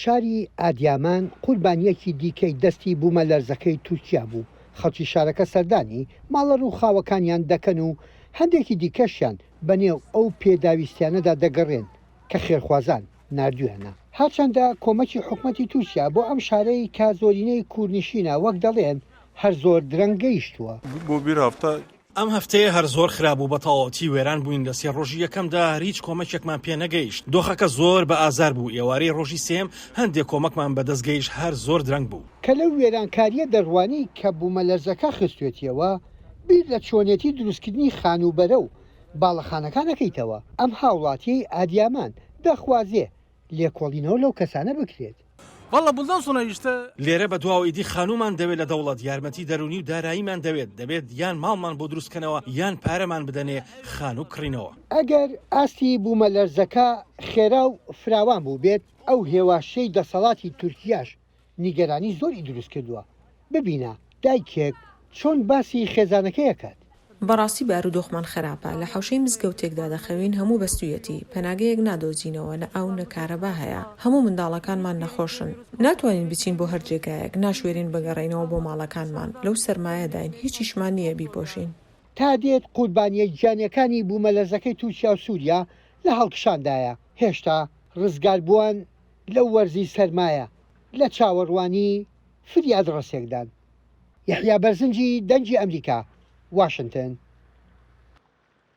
شاری ئادیامان قوربانییەکی دیکەی دەستی بوومەلەرزەکەی تورکیا بوو، خەڵکی شارەکە سەردانی ماڵە رووخاوەکانیان دەکەن و هەندێکی دیکەشیان بەنێو ئەو پێداویستیانەدا دەگەڕێن کە خێرخوازان ناردوویانە. هەرچەندە کۆمەکی حکومەتی تورکیا بۆ ئەم شارەی کە زۆرینەی کوردنشینە وەک دەڵێن هەر زۆر درەنگ گەیشتووە. بۆ بیر هەفتە ئەم هەفتەیە هەر زۆر خراپ بوو بەتەواوەتی وێران بووین لە سێ ڕۆژی یەکەمدا هەر هیچ کۆمەکێکمان پێ نەگەیشت دۆخەکە زۆر بە ئازار بوو ئێوارەی ڕۆژی سێم هەندێ کۆمەکمان بەدەست گەیشت هەر زۆر درەنگ بوو. کە لەو وێرانکاریە دەڕوانی کە بومەلەرزەکە خستوێتیەوە بیر لە چۆنێتی دروستکردنی خانووبەرە و باڵەخانەکان ئەکەیتەوە ئەم هاوڵاتیەی ئادیامان دەخوازێ لێکۆڵینەوە لەو کەسانە بکرێت. واللە بولدان سونەیشتە. لێرە بە دواوە ئیدی خانوومان دەوێت لە دەوڵەت یارمەتی دەروونی و داراییمان دەوێت دەبێت یان ماڵمان بۆ دروست کەنەوە یان پارەمان بدەنێ خانوو کڕینەوە. ئەگەر ئاستی بوومەلەرزەکە خێرا و فراوان بووبێت ئەو هێواشەی دەسەڵاتی تورکیاش نیگەرانی زۆری دروست کردووە، ببینە دایکێک چۆن باسی خێزانەکەی ئەکات. بەڕاستی بارودۆخمان خراپە لە حەوشەی مزگەوتێکدا دەخەوین هەموو بەستویەتی پەناگەیەک نادۆزینەوە نە ئاو نە کارەبا هەیە هەموو منداڵەکانمان نەخۆشن ناتوانین بچین بۆ هەر جێگایەک ناشوێرین بگەڕێینەوە بۆ ماڵەکانمان لەو سەرمایەداین هیچیشمان نییە بیپۆشین. تا دێت قوربانیە گیانیەکانی بومەلەرزەکەی تورکیا و سوریا لە هەڵکشاندایە هێشتا رزگاربوان. لەو وەرزی سەرمایە لە چاوەڕوانی فریاد ڕەسێکدان. یەحیا بەرزنجی دەنگی ئەمریکا، واشنتن.